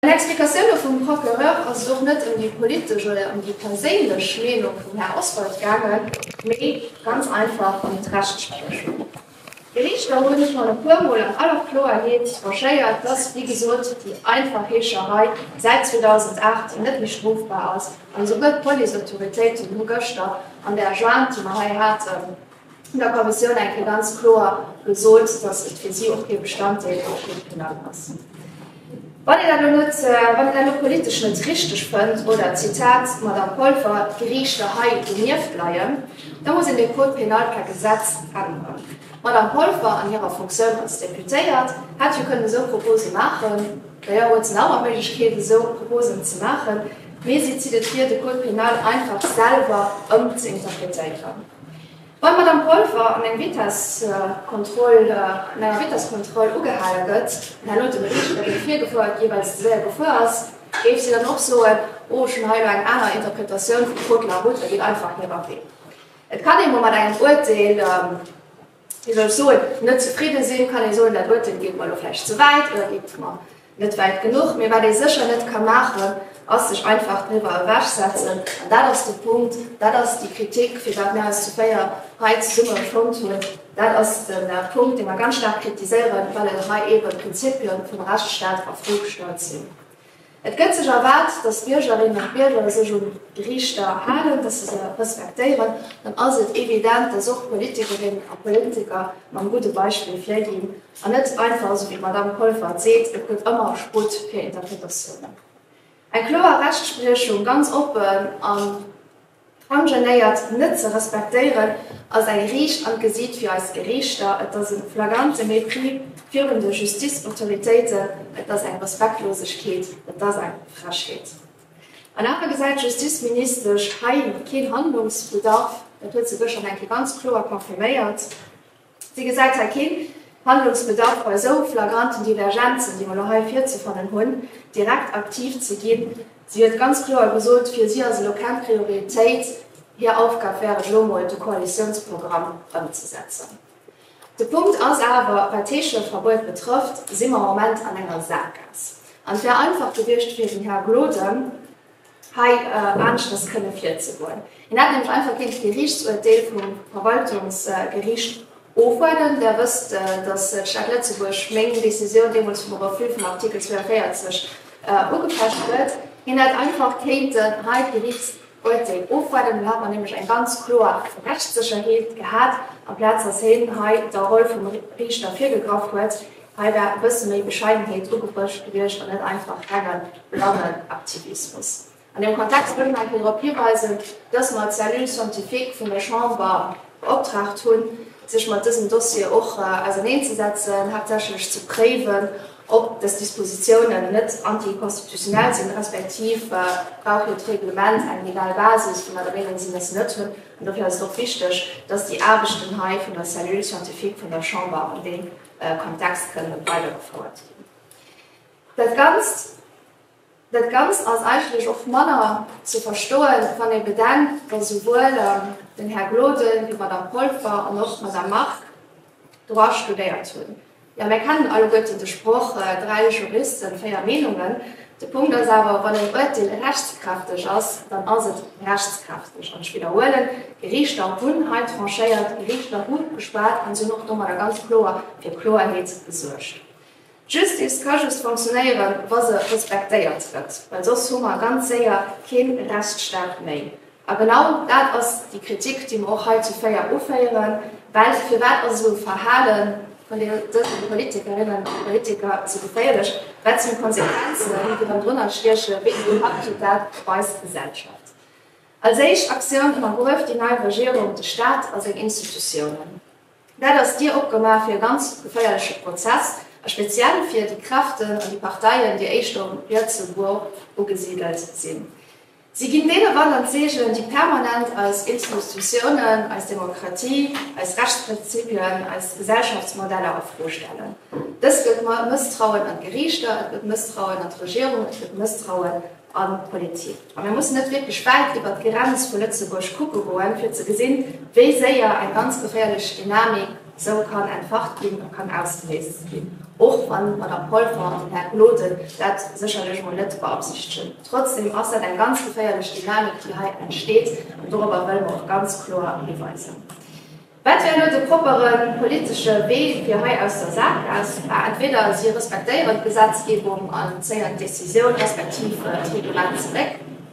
An Explikatioune vum Procureur ass et och net ëm déi politesch oder ëm déi perséinlech Meenung vum Här Oswald gaangen, mee ganz einfach ëm d'Rechtsprechung. D'Geriichter hu sech schonn e puer Mol an aller Kloerheet tranchéiert, dass, wéi gesot, déi einfach Heescherei säit 2008 net méi strofbar ass, an esouguer d'Policeautoritéiten hu gëschter an där Jointe, déi mer hei haten, vun der Kommissioun eng Kéier ganz kloer gesot, datt et fir si och kee Bestanddeel vum Schriftenakt ass. Wann een dat elo net, wann een dat elo politesch net richteg fënnt oder, Zitat Madame Polfer, d'Geriichter hei donieft leien, da muss een de Code pénal per Gesetz änneren. D'Madame Polfer an hirer Fonctioun als Deputéiert hätt jo kënnen esou Propose maachen, d'ailleurs huet se nach ëmmer d'Méiglechkeet, esou Proposen ze maachen, mee si zitt et vir, de Code pénal einfach selwer ëmzeinterpretéieren. Wann d'Madamm Polfer an eng Vitesskontroll an enger Vitesskontroll ugehale gëtt, an herno dem Riichter, dee virgefuer huet, jeeweils ze séier gefuer ass, géif si dann och soen, oh, ech hunn hei elo eng aner Interpretatioun vum Code de la route, dat deet einfach net erwee. Et kann ee mol mat engem Uerteel. Hie soll soen, net zefridde sinn, kann ee soen, dat Uerteel geet mer elo vläicht ze wäit oder geet mer net wäit genuch. Mee wat ee sécher net ka maachen, ass sech einfach driwwer ewechsetzen. An dat ass de Punkt, dat ass déi Kritik, fir wat mir eis zu véier hei zesumme fonnt hunn. Dat ass de Punkt, dee mer ganz staark kritiséieren, well hei eebe Prinzippie vum Rechtsstaat a Fro gestallt sinn. Et gëtt sech erwaart, datt d'Biergerinnen a d'Bierger sech un d'Riichter halen, datt se se respektéieren. Dann ass et evident, datt och d'Politikerinnen a Politiker mam gudde Beispill virginn an net einfach, esou wéi d'Madamm Polfer et seet, et gëtt ëmmer Sputt fir Interpretatiounen. Eng kloer Rechtspriechung, ganz oppen an. D'Angeléiert net ze respektéieren ass eng riicht an d'Gesiit fir eis Geriichter, et ass e flagrante Mépris virun de Justizautoritéiten, et ass eng Respektlosegkeet, et ass eng Frechheet. An awer gesäit d'Justizministesch hei keen Handlungsbedarf, dat huet se gëschter nach eng Kéier ganz kloer confirméiert. Si gesäit hei keen Handlungsbedarf bei esou flagranten Divergenzen, déi mer elo hei virzefannen hunn, direkt aktiv ze ginn. Si huet ganz kloer gesot, fir si ass elo keng Prioritéit, hir Aufgab wär et elo emol de Koalitiounsprogramm ëmzesetzen. De Punkt ass awer, wat d'Heescheverbuet betrëfft, si mer am Moment an enger Saakgaass. An et wär einfach gewiescht fir den Här Gloden, hei aneschters kënne virzegoen. Een hätt nämlech einfach kéint d'Geriichtsuerteel vum Verwaltungsgeriicht ofwaarden. Der wësst, datt d'Stad Lëtzebuerg meng Decisioun deemools vum Refus vum Artikel 42 ugefecht huet. Hien hätt einfach kéinten hei d'Geriichtsuerteel ofwaarden, do hätt mer nämlech eng ganz kloer Rechtssécherheet gehat, amplaz datt hien hei der Roll vum Riichter virgegraff huet, Hei war e bësse méi Bescheidenheet ugebrëcht gewiescht an net einfach rengen, blangen Aktivismus. An deem Kontext wëll ech nach eng Kéier drop hiweisen, dass mer d'Cellule scientifique vun der Chamber beoptraagt hunn, sech mat dësem Dossier och auserneenzesetzen, haaptsächlech ze préiwen, ob dës Dispositiounen net anticonstitutionnel sinn, respektiv brauch hiert Reglement eng legal Basis, wou mer der Meenung sinn, dass se net hunn. An dofir ass et och wichteg, dass déi Aarbechten hei vun der Cellule scientifique vun der Chamber an deem Kontext kënne weidergefouert ginn. Dat Ganzt, dat Ganzt ass eigentlech och manner ze verstoen, wann ee bedenkt, datt esouwuel den Här Gloden wéi d'Madame Polfer an och d'Madame Margue Droit studéiert hunn. Jo, mir kennen alleguerten de Sproch, Dräi Juristen, véier Meenungen. De Punkt ass awer, wann en Uerteel rechtskräfteg ass, dann ass et rechtskräfteg. An ech widderhuelen, d'Gerichter hunn hei tranchéiert, d'Gerichter hu geschwat an si hunn och domadder ganz kloer fir Kloerheet gesuergt. D'Justice ka just fonctionnéieren, wa se respektéiert gëtt, well soss hu mer ganz séier kee Rechtsstaat méi. A genau dat ass déi Kritik, déi mer och hei zu Féier uféieren, well firwat ass esou e Verhale vun dëse Politikerinnen a Politiker esou geféierlech, wat sinn d'Konsequenzen, déi erëm drënner stiechen, wéi en Impakt huet dat op eis Gesellschaft? Als éischt Aktioun ënnergrueft déi nei Regierung de Staat a seng Institutiounen. Dat ass d'Dier opgemaach fir e ganz geféierleche Prozess, a speziell fir déi Kräften an déi Parteien, déi éischter um rietse Bord ugesidelt sinn. Si ginn deene Wanderzeechen, déi permanent eis Institutiounen, eis Demokratie, eis Rechtsprinzipien, eis Gesellschaftsmodeller a Fro stellen. Dëst gëtt Mësstrauen an d'Geriichter, et gëtt Mësstrauen an d'Regierung, et gëtt Mësstrauen an d'Politik. A mir mussen net wierklech wäit iwwert d'Grenz vu Lëtzebuerg kucke goen, fir ze gesinn, wéi séier eng ganz geféierlech Dynamik, Sou kann entfacht ginn a kann ausgeléist ginn, och wa mat der Polver den Här Gloden dat sécherlech mol net beabsichtegen. Trotzdem ass dat eng ganz geféierlech Dynamik, déi hei entsteet, an dorobber wëlle mer och ganz kloer hiweisen. Wat wär elo de proppere politesche Wee fir hei aus der Sak aus? Bah, entweder si respektéieren d'Gesetzgebung a zéien d'Decisioun respektiv d'Reglement zeréck,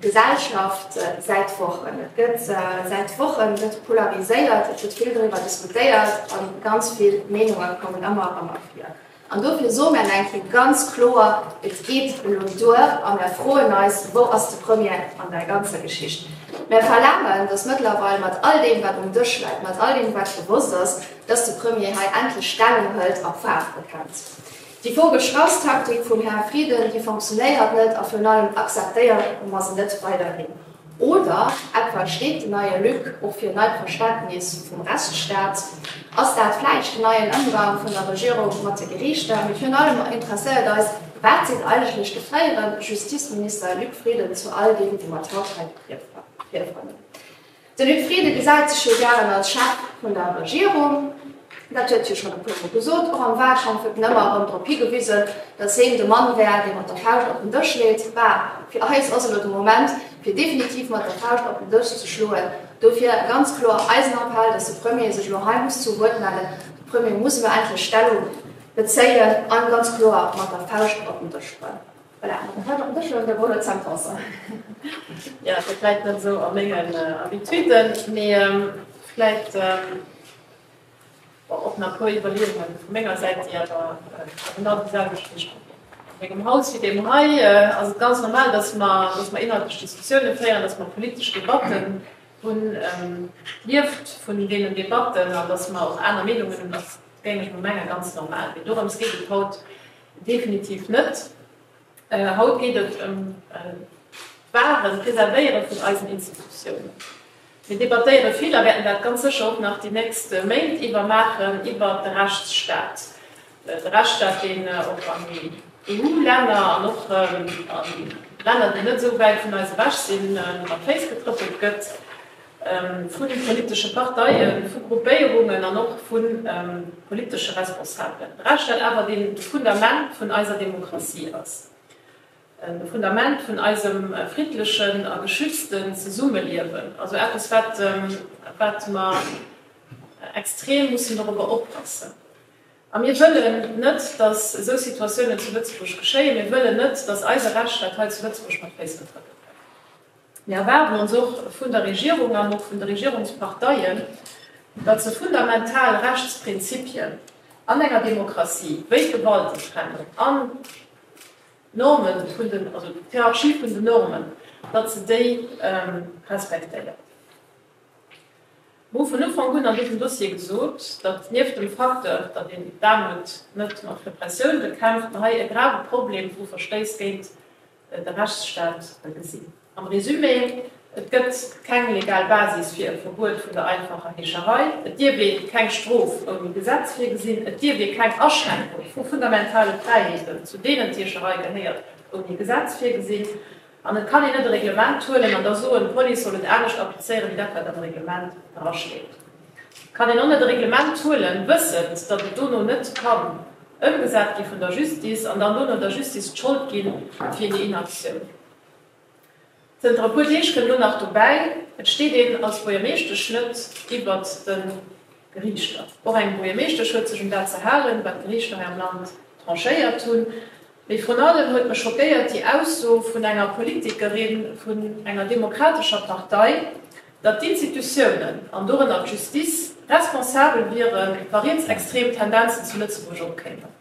Gesellschaft säit Wochen. Et gëtt säit Wochen gëtt polariséiert, et gëtt vill doriwwer diskutéiert a ganz vill Meenunge kommen ëmmer a rëmmer vir. An dofir soe mär eng Kéier ganz kloer, Et geet elo duer a mär froen eis, Wou ass de Premier an där ganzer Geschicht? Mär verlaangen, datt mëttlerweil mat all deem, wat um Dësch läit, mat all deem, wat gewosst ass, datt de Premier hei endlech Stellung hëlt a Faarf bekennt. Déi vogelsch Haustaktik vum Här Frieden, déi fonctionnéiert net a virun allem akzeptéiere mer se net weiderhin. Oder etwa steet den neie Luc och fir en neit Verständnis vum Rechtsstaat? Ass dat vläicht den neien Ëmgang vun der Regierung mat de Geriichter? Mee virun allem interesséiert eis, Wat seet eigentlech de fréiere Justizminister Luc Frieden zu all deem, wou mer d'Haut hei virfannen? De Luc Frieden gesäit sech jo gären als Chef vun der Regierung. Dat huet hie schonn e puermol gesot. Och am Wahlkampf huet en ëmmer erëm drop higewisen, datt heen de Mann wär, dee mat der Fauscht op den Dësch leet. Bah, fir eis ass elo de Moment, fir definitiv mat der Fauscht op den Dësch ze schloen. Dofir ganz kloer eisen Appell, datt de Premier sech elo hei muss zu Wuert mellen. De Premier muss elo endlech Stellung bezéien a ganz kloer mat der Fauscht op den Dësch schloen. Voilà, da war dat bësche de Rouler Zahnpasser. Jo, ass jo vläit net esou a mengen Habituden, mee vläit och nach e puer Iwwerleeunge vu menger Säit, déi awer genau déi selwecht wéi ech a mengem Haus fir deem hei. Ass et ganz normal, datt mer datt mer inhaltlech Diskussioune féieren, datt mer politesch Debatten hunn, lieft vun deenen Debatten, an datt mer och aner Meenungen hunn, ass, géing ech mol mengen, ganz normal. Mee dorëms geet et haut. Definitiv net. Haut geet et ëm d'Wahren, d'Preservéiere vun eisen Institutiounen. Mir debattéiere vill, a wäerten dat ganz sécher och nach déi nächst Méint iwwer maachen, iwwer de Rechtsstaat. De Rechtsstaat, deen och an EU-Länner an och an Länner, déi net esou wäit vun eis ewech sinn, mat Féiss getrëppelt gëtt. vun de politesche Parteien, vu Gruppéierungen an och vu politesche Responsabelen, d'Rechtsstaat awer deen de Fundament vun eiser Demokratie ass, de Fundament vun eisem friddlechen a geschützten Zesummeliewen, also eppes wat mer extrem mussen dorobber oppassen. A mir wëllen net, datt esou Situatiounen zu Lëtzebuerg geschéien, mir wëllen net, datt eise Rechtsstaat hei zu Lëtzebuerg mat Féiss getrëppelt gëtt. Mir erwaarden ons och vun der Regierung an och vun de Regierungsparteien, datt se fundamental Rechtsprinzipien an enger Demokratie, wéi d'Gewaltentrennung an d'Norme vun den, also d'Hierarchie vun den Normen, datt se déi respektéiert. Mir hu vun Ufank un an dësem Dossier gesot, datt nieft dem Facteur, datt een d'Aarmut net mat Repressioun bekämpft, mer hei e grave Problem vu Verstéiss géint de Rechtsstaat gesinn. Am Resumé, Et gëtt keng legal Basis fir e Verbuet vun der einfacher Heescherei, et dierf ee keng Strof ouni Gesetz virgesinn, et dierf ee keng Aschränkung vu fundamentale Fräiheeten, zu deenen d'Heescherei gehéiert, ouni Gesetz virgesinn an et kann een net e Reglement huelen an da soen, d'Police soll et anescht applizéieren, wéi dat, wat am Reglement drasteet. Kann een och net e Reglement huelen, wëssend, datt et dono net kann ëmgesat gi vun der Justice an dann dono der Justice d'Schold gi fir déi Inaktioun? Zënter e puer Deeg kënn elo nach dobäi, et steet een als Buergermeeschtesch net iwwert de Geriichter. Och eng Buergermeeschtesch huet sech un dat ze halen, wat d'Geriichter hei am Land tranchéiert hunn. Mee vrun allem huet mech schockéiert déi Ausso vun enger Politikerin vun enger demokratescher Partei, datt d'Institutiounen, an dorënner d'Justice, responsabel wiere wa rietsextrem Tendenzen zu Lëtzebuerg opkéimen.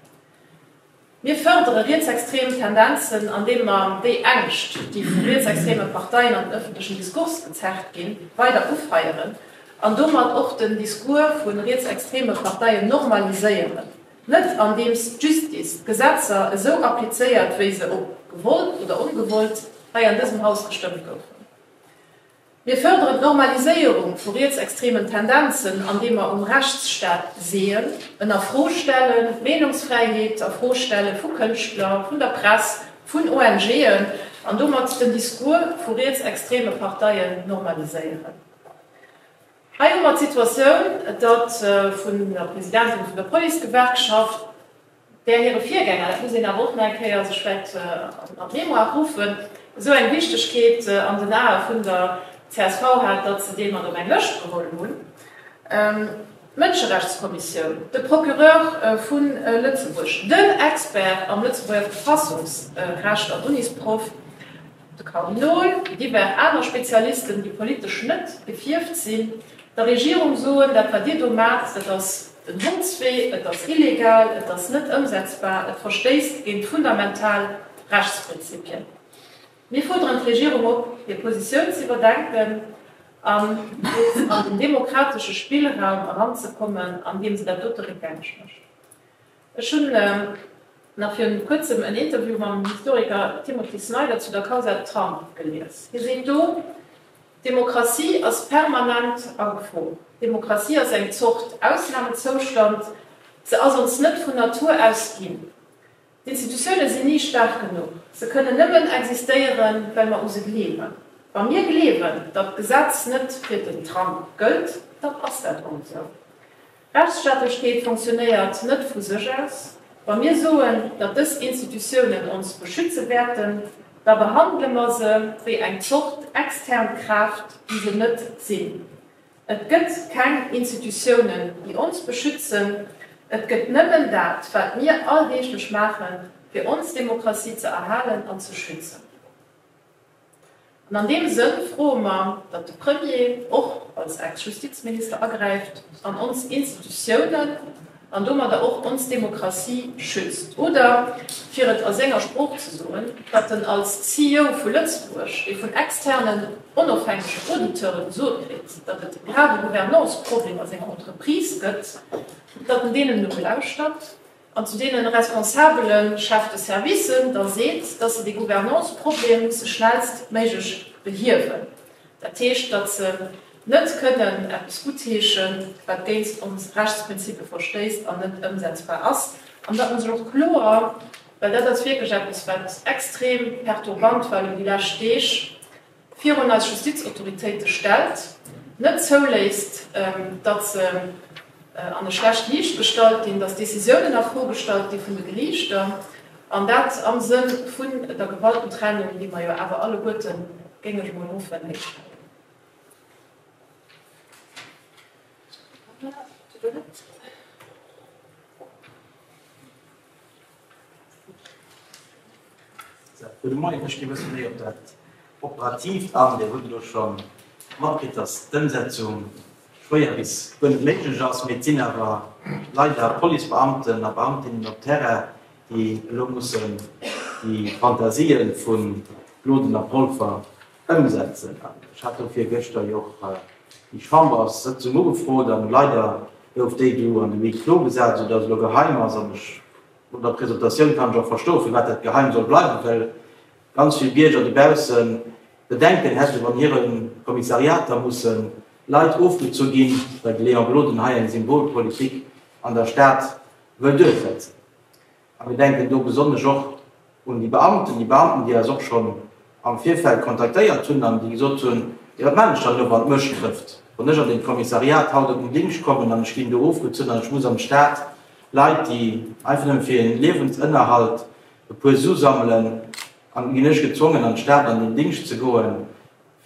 Mir fërdere rietsextrem Tendenzen, andeem mer déi Ängscht, déi vu rietsextreme Parteien an den ëffentlechen Diskurs gezerrt ginn, weider ufeieren an domat och den Discours vu rietsextreme Parteien normaliséieren. Net andeems d'Justice d'Gesetzer esou applizéiert, wéi se, ob gewollt oder ongewollt, hei an dësem Haus gestëmmt goufen. Mir fërderen d'Normaliséierung vu rietsextremen Tendenzen, andeem mer um Rechtsstaat seeën, en a Fro stellen, d'Meenungsfräiheet a Fro stelle vu Kënschtler, vun der Press, vun ONGen, an domat den Discours vu rietsextreme Parteien normaliséieren. Hei hu mer d'Situatioun, datt vun der Presidentin vun der Policegewerkschaft, där hire Virgänger, dat muss een awer och nach eng Kéier sech vläicht an d'Mémoire ruffen, esou eng Wichtegkeet an den Ae vun der csv hat, datt se dee mat op eng Lëscht geholl hunn, d'Mënscherechtskommissioun, de Procureur vu Lëtzebuerg, den Expert am Lëtzebuerger Verfassungsrecht an Unisprof, de Kardinol, divers aner Spezialisten, déi politesch net gefierft sinn, der Regierung soen, dat wat Dir do maacht, dat ass den Hondswee, et ass illegal, et ass net ëmsetzbar, et verstéisst géint fundamental Rechtsprinzipien. Mir fuerderen d'Regierung op, hir Positioun z'iwwerdenken an nees an den demokratesche Spillraum eranzekommen, andeem se dat dote réckgängeg mécht. Ech hunn nach virun kuerzem en Interview mam Historiker Timothy Snyder zu der Kausa Trump gelies. Hie seet do, Demokratie ass permanent a Gefo. Demokratie ass eng Zort Ausnamezoustand, se ass ons net vun Natur aus ginn. D'Institutioune sinn ni staark genuch, se kënnen nëmmen existéieren, well mer u se gleewen. Wa mir gleewen, datt d'Gesetz net fir den Trump gëllt, dann ass dat och esou. Rechtsstaatlechkeet fonctionnéiert net vu sech aus. Wa mir soen, datt dës Institutiounen ons beschütze wäerten, da behandele mer se wéi eng Zort extern Kraaft, déi se net sinn. Et gëtt keng Institutiounen, déi ons beschützen. Et gëtt nëmmen dat, wat mir alldeeglech maachen, fir ons Demokratie ze erhalen an ze schützen. An an deem Sënn froe mer, datt de Premier och als Ex-Justizminister agräift an ons Institutiounen, an domadder och ons Demokratie, schützt. Oder fir et a senger Sprooch ze soen, wat en als CEO vu Lëtzebuerg, dee vun externen, onofhängegen Auditeure gesot kritt, datt et grave Gouvernance-Problemer a senger Entreprise gëtt, datt en deenen nolauschtert. an zu deene responsabele Chefs de service, da seet, datt se dee Gouvernanceproblem musse schnellst méiglech behiewen, dat heescht, datt se net kënnen eppes gutheeschen, wat géinst ons Rechtsprinzippe verstéisst an net ëmsetzbar ass, an datt mer se och kloer, well dat ass wierklech eppes, wat extrem perturbant war elo déi lescht Deeg, virun eis Justizautoritéite stellt, net zouléisst, datt se an e schlecht Liicht gestallt ginn, datt Decisiounen a Fro gestallt gi vun de Geriichter, an dat am Sënn vun der Gewaltentrennung, déi mer jo awer alleguerte, géing ech emol hoffen, héich halen. Gudde Moien. Ech ginn e bëssen méi op dat Operatiivt an. Dir hutt elo scho matkritt, datt d'Ëmsetzung schwéier bis guer net méiglech ass, mee et sinn awer leider Policebeamten a beamtinnen op Terrain, déi elo mussen déi Fantasien vu Gloden a Polfer Ëmsetzen. An ech hat do virgëschter jo och déi Chamberssëtzung ugefrot an leider gouf déi do an de Huis clos gesat, esoudatt et elo geheim ass. An ech, no der Presentatioun kann ech och verstoen, firwat dat geheim soll bleiwen, well ganz vill Bierger dobausse Bedenken hätten, wann hire Kommissariater musse Leit ofgezu ginn, well de Léon Gloden hei eng Symbolpolitik an der Stad wëll duerchsetzen. A mir denken do besonnesch och un déi Beamten, déi Beamten, déi eis och schonn am Virfeld kontaktéiert hunn an déi gesot hunn, Jo, wat maan ech dann elo, wann d'Mëscht trëfft, wann ech an deem Kommissariat haut op den Dingscht kommen an ech ginn do ofgezunn an ech muss am Staat Leit, déi einfach nëmme fir hir Liewensënnerhalt e puer Su sammelen, an ginn ech gezwongen, an d'Stad an den Dingscht ze goen,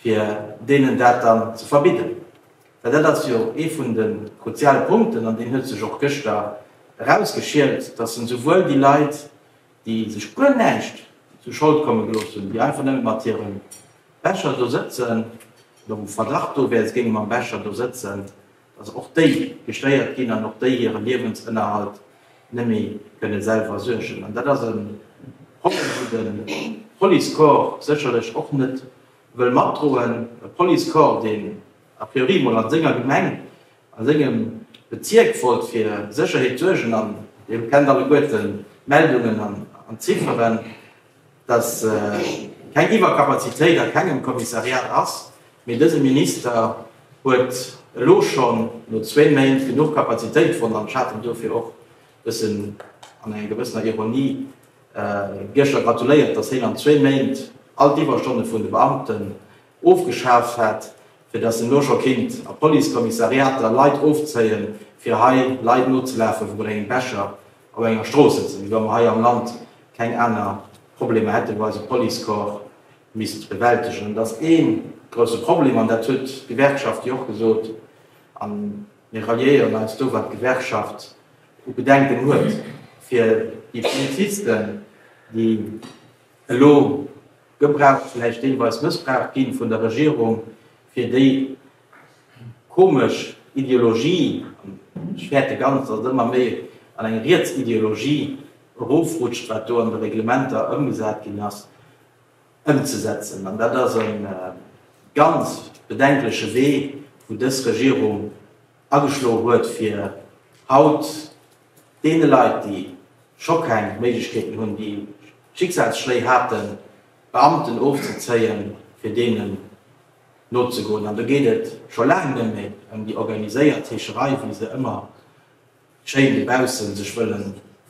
fir deenen dat dann ze verbidden? Well dat ass jo ee vun de kruziale Punkten, an deen huet sech och gëschter erausgeschielt, dass en souwuel déi Leit, déi sech guer näischt zu Schold komme gelooss hunn, déi einfach nëmme mat hirem Becher do sëtzen, oder wou Verdacht do wär, se géinge mam Becher do sëtzen, dass och déi gestéiert ginn an och déi hire Liewensënnerhalt net méi kënne selwer suergen. An dat ass e Problem, wou de Policecorps sécherlech och net wëll matdroen, e Policecorps, deen a priori emol a senger Gemeng, a sengem Bezierk wollt fir Sécherheet suergen, an Dir kennt alleguerten d'Meldungen an d'Zifferen, dass keng Iwwerkapazitéit a kengem Kommissariat ass, mee dëse Minister huet elo schonn no zwee Méint genuch Kapazitéit fonnt, an ech hat en dofir och e bëssen an enger gewëssener Ironie, Gieschter gratuléiert, datt heen an zwee Méint all d'Iwwerstonne vun de Beamten ofgeschaaft hätt, fir datt en elo scho kinnt a Policekommissariater Leit ofzéien, fir hei Leit nozelafen, wou mer eng Becher op enger Strooss sëtzen, wéi wa mer hei am Land keng aner Problemer hätten, wou eise Policecorps misst bewältegen. Dat ass ee grousse Problem an dat huet d'Gewerkschaft jo och gesot. Mir ralliéieren eis do wat d'Gewerkschaft u Bedenken huet fir déi Polizisten, déi elo gebraucht, vläicht deelweis mëssbraucht ginn vun der Regierung fir déi komesch Ideologie, an ech fäerte ganz, datt et ëmmer méi an eng riets Ideologie erofrutscht, wat do an de Reglementer ëmgesat ginn ass. ëmzesetzen. An dat ass e ganz bedenkleche Wee, wou dës Regierung ageschloe huet, fir haut deene Leit, déi scho keng Méiglechkeeten hunn, déi Schicksalsschléi haten, d'Beamten ofzezéien, fir deenen nozegoen. An do geet et scho laang net méi ëm déi organiséiert Heescherei, wéi se ëmmer schéin dobausse sech wëlle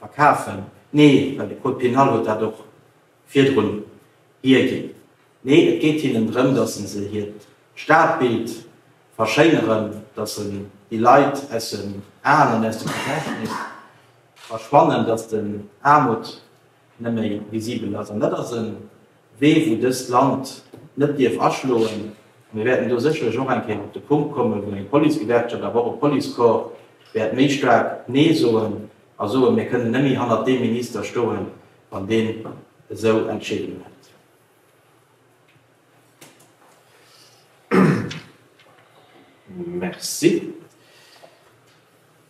verkafen. Nee, well de Code pénal huet dat och virdrun hierginn. Nee, et geet hinnen drëm, dass se se hiert Stadbild verschéineren, dass se déi Leit aus den Aen an aus dem Gedächtnis verschwannen, dass den Aarmut neméi visibel ass. An dat ass e Wee, wou dëst Land net dierf aschloen. A mir wäerten do sécherlech och eng Kéier op de Punkt kommen, wou eng Policegewerkschaft, awer och e Policecorps wäert méi staark Nee soen a soen, Mir kënnen neméi hannert deem Minister stoen, Wann deen esou entscheeden hätt. Merci.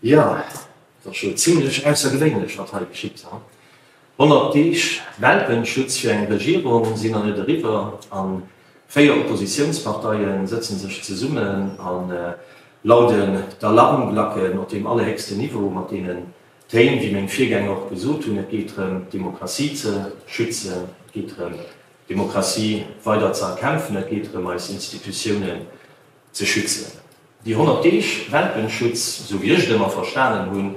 Jo, et ass scho zimlech aussergewéinlech, wat hei geschitt. Honnert Deeg Welpenschutz fir eng Regierung sinn nach net eriwwer a véier Oppositiounsparteie sëtze sech zesummen a lauden d'Alarmglacken op deem allerhéchsten Niveau, mat deenen D'Théim, wéi meng Virgänger och gesot hunn, et geet drëm, d'Demokratie ze schützen, et geet drëm, d'Demokratie weider ze erkämpfen, et geet drëm, eis Institutiounen ze schützen. Déi 100 Deeg Welpenschutz, esou wéi ech et ëmmer verstanen hunn,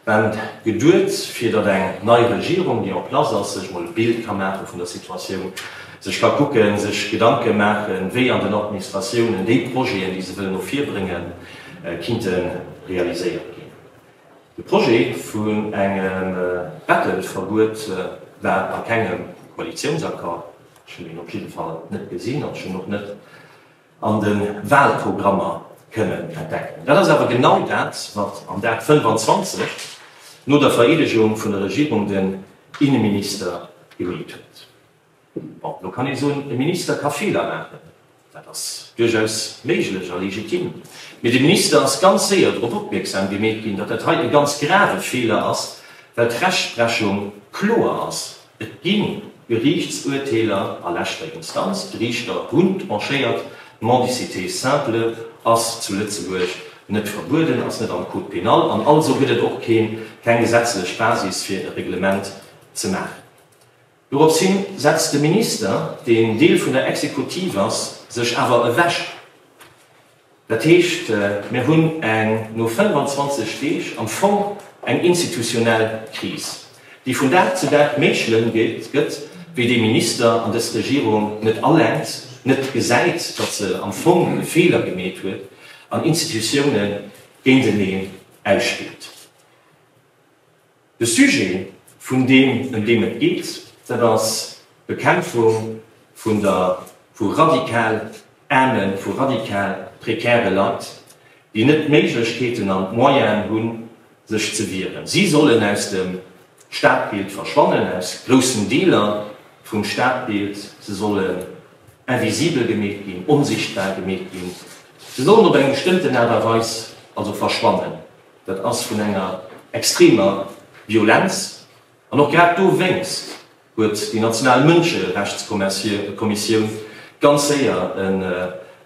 waren geduet, fir datt eng nei Regierung, déi en place ass, sech emol e Bild ka maache vun der Situatioun, sech ka kucken, sech Gedanke maachen, wéi an den Administratiounen déi Projeten, déi se wëllen no vir bréngen, kinnte realiséiert ginn. De Projet vun engem Bettelverbuet war a kengem Koalitiounsaccord, ech hunn en op jidde Fall net gesinn an ech hunn och net an de Wahlprogrammer kënnen entdecken. Dat ass awer genau dat, wat am Dag 25 no der Vereedegung vun der Regierung den Inneminister gemeet huet. Bon, elo kann ee soen, e Minister ka Feeler maachen. Dat ass duerchaus méiglech a legitim. Mee de Minister ass ganz séier drop opmierksam gemeet ginn, datt dat hei e ganz grave Feeler ass, well d'Rechtsprechung kloer ass. Et gi Geriichtsuerteeler a leschter Instanz, d'Riichter hunn tranchéiert, d'Mendicité simple ass zu Lëtzebuerg net verbueden, ass net am Code pénal an also gëtt et och keng gesetzlech Basis, fir e Reglement ze maachen. Dorops hin setzt de Minister, deen Deel vun der Exekutiv ass, sech awer ewech. Dat heescht, mir hunn eng, no 25 Deeg, am Fong eng institutionell Kris, déi vun Dag zu Dag méi schlëmm gëtt, wéi dee Minister an dës Regierung net alenkt, net gesäit, datt se am Fong e Feeler gemeet huet an Institutiounen géinteneen ausspillt. De Sujet, vun deem ëm deem et geet, dat ass d'Bekämpfung vun der, vu radikal aarmen, vu radikal prekäre Leit, déi net d'Méiglechkeeten an d'Moyenen hunn, sech ze wieren. Si sollen aus dem Stadbild verschwannen, aus groussen Deeler vum Stadbild. Se sollen invisibel gemeet ginn, onsichtbar gemeet ginn. Se sollen op eng bestëmmten Aart a Weis also verschwannen. Dat ass vun enger extremer Violenz. An och grad dowéinst huet déi national Mënscherechtskommissioun ganz séier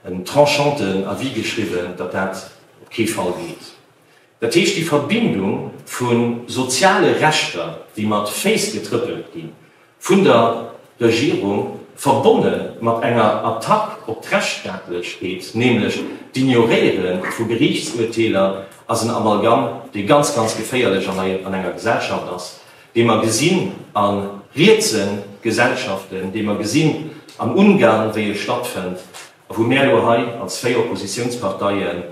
en tranchanten Avis geschriwwen, datt dat op kee Fall geet. Dat heescht, déi Verbindung vu soziale Rechter, déi mat Féiss getrëppelt ginn, vun der Regierung, verbonne mat enger Attack op d'Rechtsstaatlechkeet, nämlech d'Ignoréiere vu Geriichtsurteeler, ass en Amalgamm, dee ganz, ganz geféierlech an enger Gesellschaft ass, dee mer gesinn a rietse Gesellschaften, dee mer gesinn an Ungarn, wéi e stattfënnt a wou mär elo hei als véier Oppositiounsparteien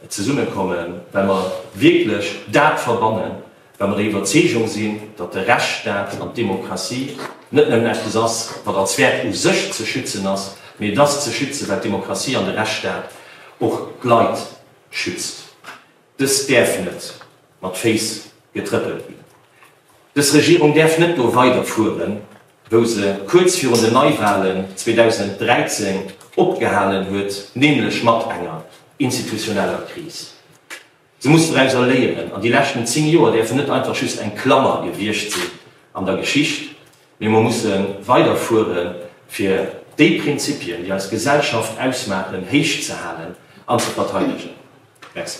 zesummekommen, well mer wierklech dat verbannen, Wa mer der Iwwerzeegung sinn, datt de Rechtsstaat an d'Demokratie net nëmmen eppes ass, wat als Wäert u sech ze schützen ass, mee et ass ze schützen, well d'Demokratie an de Rechtsstaat och d'Leit schützt. Dës däerf net mat Féiss getrëppelt ginn. Dës Regierung däerf net do weider fueren, wou se kuerz virun den Neiwahlen 2013 opgehalen huet, nämlech mat enger institutioneller Kris. Si muss dorauser léieren an déi leschten 10 Joer däerfen net einfach just eng Klammer gewiescht sinn an der Geschicht, mee mer musse weider fuere fir déi Prinzipien, déi eis Gesellschaft ausmaachen, héich ze halen an ze verteidegen. Merci.